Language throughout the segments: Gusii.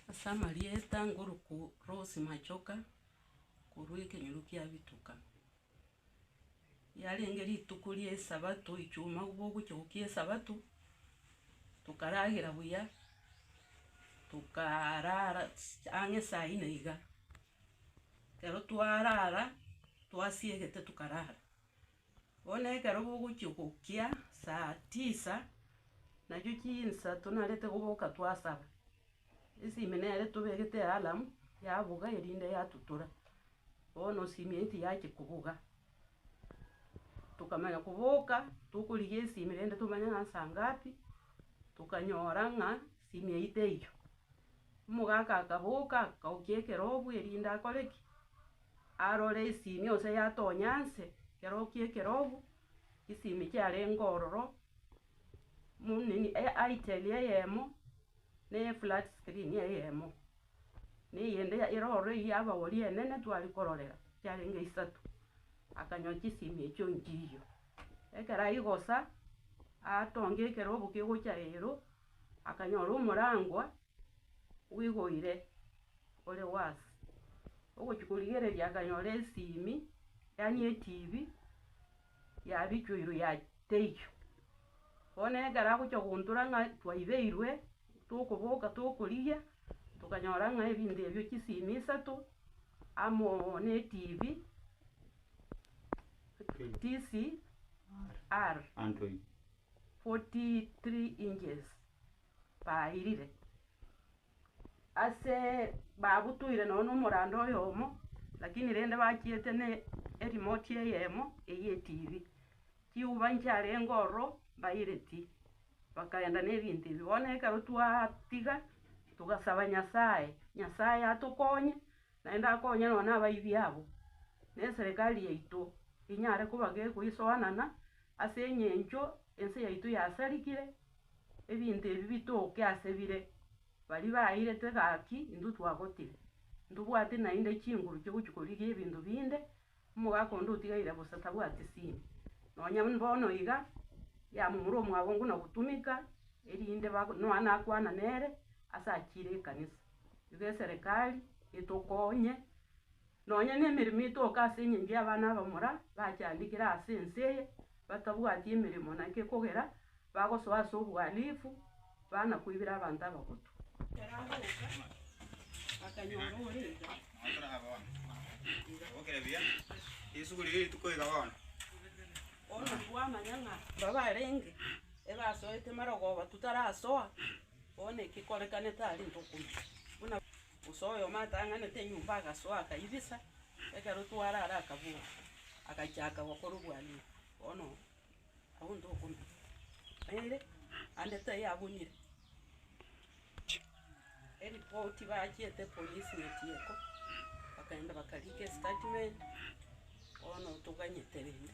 Ase amarieta ngoruku Rose Machoka, korwa ekenyoro kia Bituka. Riarenge rituko ria esabato echuma bogochia gokia esabato, tokaragera buya, tokarara ang'e saa inne iga, ekero twarara, twasiegete tokarara. Bono ekero bogochia gokia saa tisa, nachio chinsa tonarete goboka twasaba, esimi nere tobegete ealarm yabuga erinde yatutora, bono simi eye tiyachia kobuga. Tokamanya koboka tokorigia esimi rende tomanye ng'a nsaa ngapi, tokanyora ng'a simi eyio teiyo. Omogaka akaboka akaokia ekerobu erinde akore ki? Arore isimi onse yatonya nse, kerokia ekerobu, isimi kiarenge ororo, eitel eyemo, ne eflat screen eyemo, na eyende ere ororo eyio ya abagori enene twari kororera, kiarenge isato, akanyoa chisimi echio nchiyo. Ekero aigosa, atonge ekerobu kegocha ero, akanyora omorangwa. Bwigoire ore worse. Ogochia korigereria akanyora esimi, yaani etv, yabichwa igoro ya teiyo. Bono ekero agochia gontora ng'a twaibeirwe, tokoboka tokorigia, tokanyora ng'a ebinto ebio chisimi isato, amo oo ne etv, TCR, forty three inches, bairire, ase babutoire nonye na omorando oyomo, lakini rende bachiete ne eremote eyemo eyia etibi, chiuba nchiarenge ororo mbaireti, bakaenda na ebinto ebi, bono ekero twatiga, togasaba Nyasaye, Nyasaye atokonye, naende akonye nonye na abaibi abo, na eserekari yaito enyare koba gekoisoanana ase eng'encho ense yaito yasarigire. Ebinto ebi bitoke ase bire baria bairetwe gaki intwe twagotire. Ntobwati naende chinguru chi'ogochi-korigia ebinto binde, omogaka onde otigaire bosa tabwati sini. Nonya bono iga, yamomura omwabongo na gotumeka, erinde ba noa nakwana nere ase achiire ekanisa. Igo eserekari etokonye. Nonya nemeremo etoke ase engencho y'abana abamura bachandekire ase ense eye, batabwati emeremo, na inki ekogera bagosoa ase obohalifu, bana koibera abanto abagotu. Ekero agoka, akanyora ore iga. Omonto bwamanya ng'a mbabarenge ebasoete marogoba tu tarasoa, bono ekekorekane tarenge okomanya, buna. Gose oyomo atang'anete enyomba agasoa, akairisa, ekero tware are akabua, agachaaka gokorobua ria bono abwo ntokomanya. Naende ande taiyo abunire eripoti bachiete epolice nyetieko, bakaenda bakariika estatement, bono toganyete rende.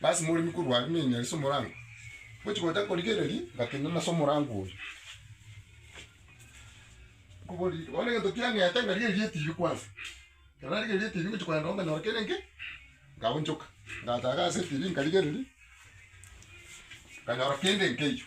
Lasima oremi korwa are nenyari ase omorango. Ngochi gocha korigereria ngatenena ase omorango oria. Nkoboria ere, bono egento kiang'ete ngarigereria etibi kwansa. Ekero narigereiri etibi ngochi kogenda igo nkanyora kere inki, nkaonchoka. Ngacha iga ase etibi nkarigereria, nkanyora kende nkeiyo.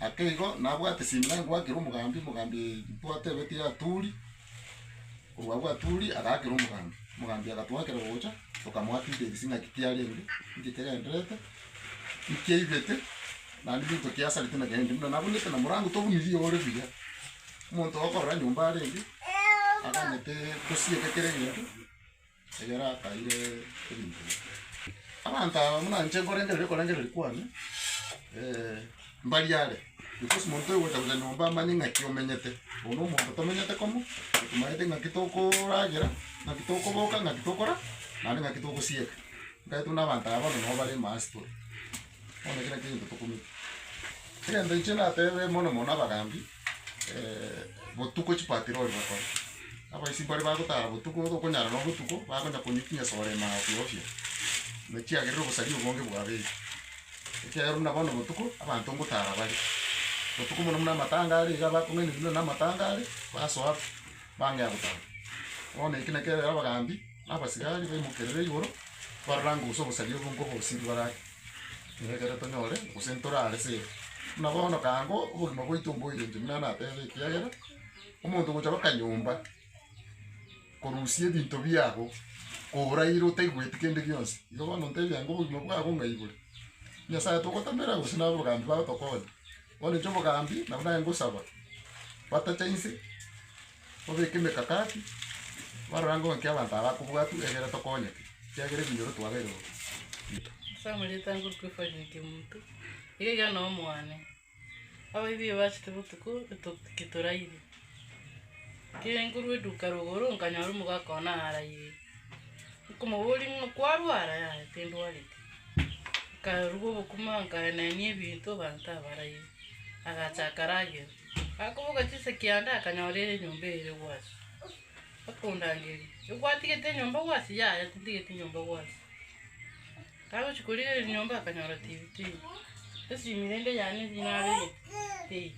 Ake igo nabwate Simei ngwakire omogambi, omogambi twatebeti Aturi, korwa agwo Aturi agakera omogambi, omogambi agatwakera gocha tokamoakideris ng'a ki kiarenge, nki kegendererete, nki aibete, naende binto ki asarete na bende buna nabunete na morango tobunirie ore buya. Omonto okorora nyomba arenge, aganyete gosieka kera egento. Ekero ataire ebinto bike, Abanto aba buna inche nkorengereria okorengereria kwane, mbari are, because monto oyogocha gocha nyomba amanye ng'aki omenyete, oyo na omonto tomenyete komo, tomaete ng'aki tokoragera, ng'aki tokoboka, ng'aki tokora, naende ng'aki togosieka. Ntagete buna abanto aba bono nabo bare ime ase tore, bono ekero nakio egento tokomenya. Egento inche natebe mono mono abagambi. botuko chipatirori bakore, abaisimu baria bagotara botuko tokonyara nonya botuko, bakonya konywa chinsa sore ime ago ofio ofio, na chiagerire obosari obonge bwabeire, ekiagera buna bono botuko abanto ngotara bare, botuko mono mono amatanga are iga bakong'ainereria nonya na amatanga are, basoa pi, bang'ea gotara. Bono eke nakio ekero abagambi. Na abasigari baimokerere igoro, barorange gose obosaria obo nkobosirie bare ake, ng'a ekero tonyore gose ntore aare sere. Buna bono kaango obogima bwaito mboirenche, buna natebete, ekiagera omonto ogocha goka nyomba korusia ebinto biabo koraire otaigweti kende gionsi, igo bono ntebia ng'a obogima bwabo ng'ai bore? Nyasae togotamera gose nabogambi bao tokonya? Bondeche obogambi na buna ngosaba, batacha inse, babeke emekakati, barora ng'a inki abanto aba bakobua atu egere tokonyeke, ekiagera ebinyoro twabeire bo bito. Ase amarioto anga okwefania ekemunto, iga iga nao mwane. Abaibi ebachete botuko eto- ketorairi, kere ngorwa eduka rogoro, nkanyora omogaka one arairi. Nkomoboria ng'a kwarwa ara? Yaya tindwareti. Nkarwa obokima nkaenenia ebinto abanto abaraire, agachaka ragera. Akoboka chisa kianda akanyora ere enyomba ere gwasi. Akondangeria, Ogwatigete enyomba gwasi? Yaya tintigeti nyomba gwasi. Kagochia korigera enyomba akanyora TV teiyo. Esimi rende yane naregete teiyo.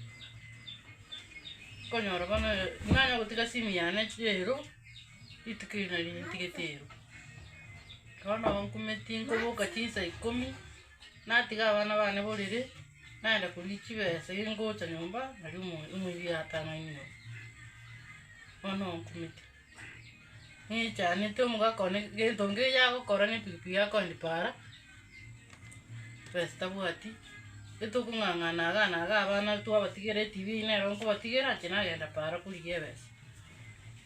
Okonyora bono nanyara gotiga simi yane ero. Rituko eri nario nintigete ero. Bono nkumeti nkoboka chinsa ikomi, natiga abana bane borere, nagenda koria chibesa erio ngocha nyomba nario omo- omoibi atang'aini oo. Bono nkumeti, ng'echanete omogaka one gento ngeyo agokora na epikipiki akoendipara. Pesa tabwati, getokong'ang'ana iga na iga abana twabatigera etv eywo nere nkobatigera inche nagenda paara korigia ebesa.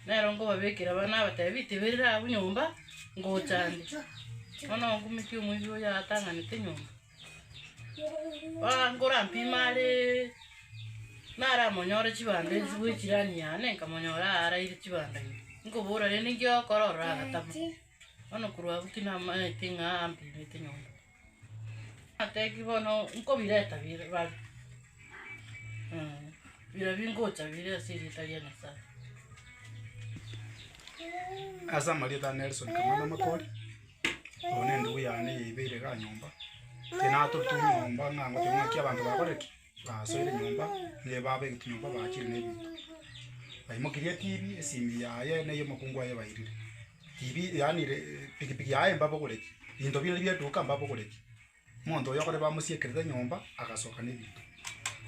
Nero nkobabekera abana nabatebi tiberire abwo nyomba, ngocha ande. Bono ngumeke omoibi oyo atang'anete nyomba. Aa nkora mpimo areee, naramonyore chibando echio bwe jirani yane, nkamonyora araire chibando ime. Nkobora rende nki okora ororo agatabu. Bono korwa abwo tinamaete ng'a ampimete nyomba. Natebiwe bono nkobireta bire bare, bira bingocha bire ase erieta ria Nyasaye. Ase amarieta ane Nelson Kamana Makori, oyo nendugu yane eyeibeire iga nyomba, tinatote nyomba ng'a ngotebi ng'a ki abanto bakore ki. Basoire nyomba, ne baba egetunyomba baachire nebinto. Baimokirie etibi, esimi yaye na ey'omokungu aye bairire. Tibi yaani re pikipiki yaye mbabogoretie, binto bire bie duka mbabogoretie. Monto oyo okore bamosiekerete nyomba, agasoka ne binto.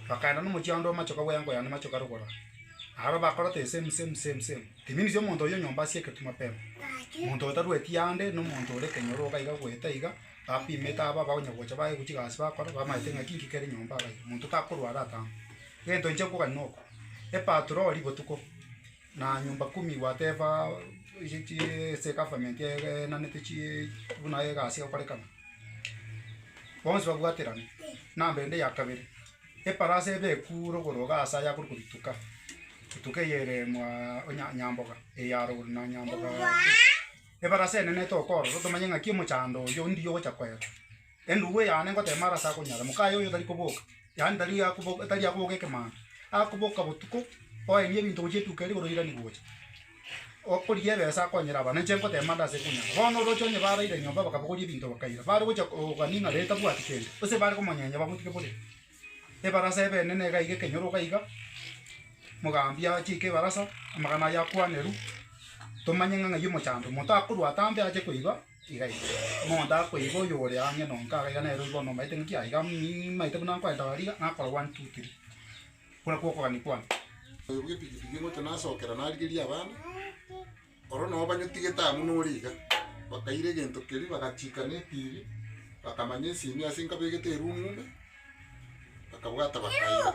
Bakaenda nomochie onde omachoka bwa engo yane machoka rogoro aa. Aro bakora the same same same same. It means omonto oyio nyomba asiekeretwe mapema. Monto otarueti ande, nomonto ore kenyoro iga goeta iga. Tapimete aba abonyagocha baye gochika gasi bakora, bamaete ng'aki inki kere nyomba abaire, monto takorwara atambe. Egento inche nkogania noko, epatroli botuko na nyumba kumi gwateba eye chi ase egavamenti enanete chi buna egasi egokorekana, bonsi babwaterane. Namba ende ya kabere, eparasi ebe ekure igoro iga ase aya akore kobituka, etuka eye ere mwaa onya nyamboga, eye arogoro na nyamboga. Ebara ase enene tokoorosa tomanye ng'aki omochando oyio ndiye ogocha koeba. Endugu eyane ngoteema arase akonyara, mokaye oyo tari koboka, yaani tari akoboka tari akoboka ekemando, akoboka botuko, oenie ebinto gochia etuko eri igoro oirani gocha. Okorigia ebesa akonyera abana, inche ngoteema ndase konyara. Bono oroche onye baraire nyomba bakabogoria ebinto bakaira, bare gocha kogania ng'a ree tabwati kende, gose bare komonyenya bamotike bore. Ebarasa ebeene nega iga ekenyoro iga iga, mogaambia achiike ebarasa, amagana aye akwaneru, tomanye ng'a ng'ai omochambe, omonto akorwa atambe ache koiba iga iga, omonto akoiba oyo ore ang'e no nkaga iga nere oyi bono omaete ng'aki aiga mmaete buna nkwenta bare iga, nakora one, two, three, okwo nakwo okogania kwane. Oyo bw'epikipiki ngocha nasokera narigeria abana. Oro nao banyotigete amo nore iga, bakaira egento keria bagachiika ne etibi, bakamanya esimi ase nkabegete erumu ime, bakabwata bakaira.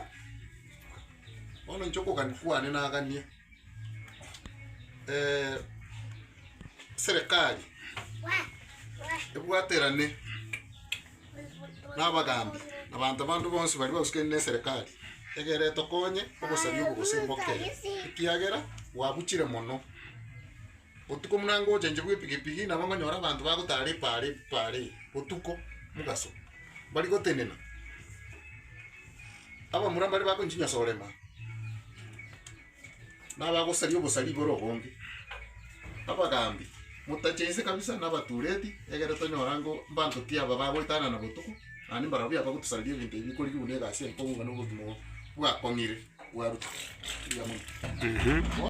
Bono inche okogania kwane nagania serikali ebwaterane. na abagaambi, na abanto bande bonsi baria bausekanire n'eserekari, egere etokonye obosaria obo gose mbokere, ekiagera gwabuchire mono. Botuko buna ngochenchwa bw'epigipigi nabo nkonyora abanto bagotara ripaara ripaara eri botuko mogaso, mbari gotenena, abamura mbare bakonchinyia sorema. nabagosaria obosari igoro obonge, abagaambi, motacha inse kabisa, na abatureti, egere tonyore ango mbanto ki aba bagoetanana botuko, naende mbarobio abagotosareria ebinto ebi bikorigia buna egasi eye nkong'u ng'a na obogima obo bwakong'ire bwarutwa. Erio amo.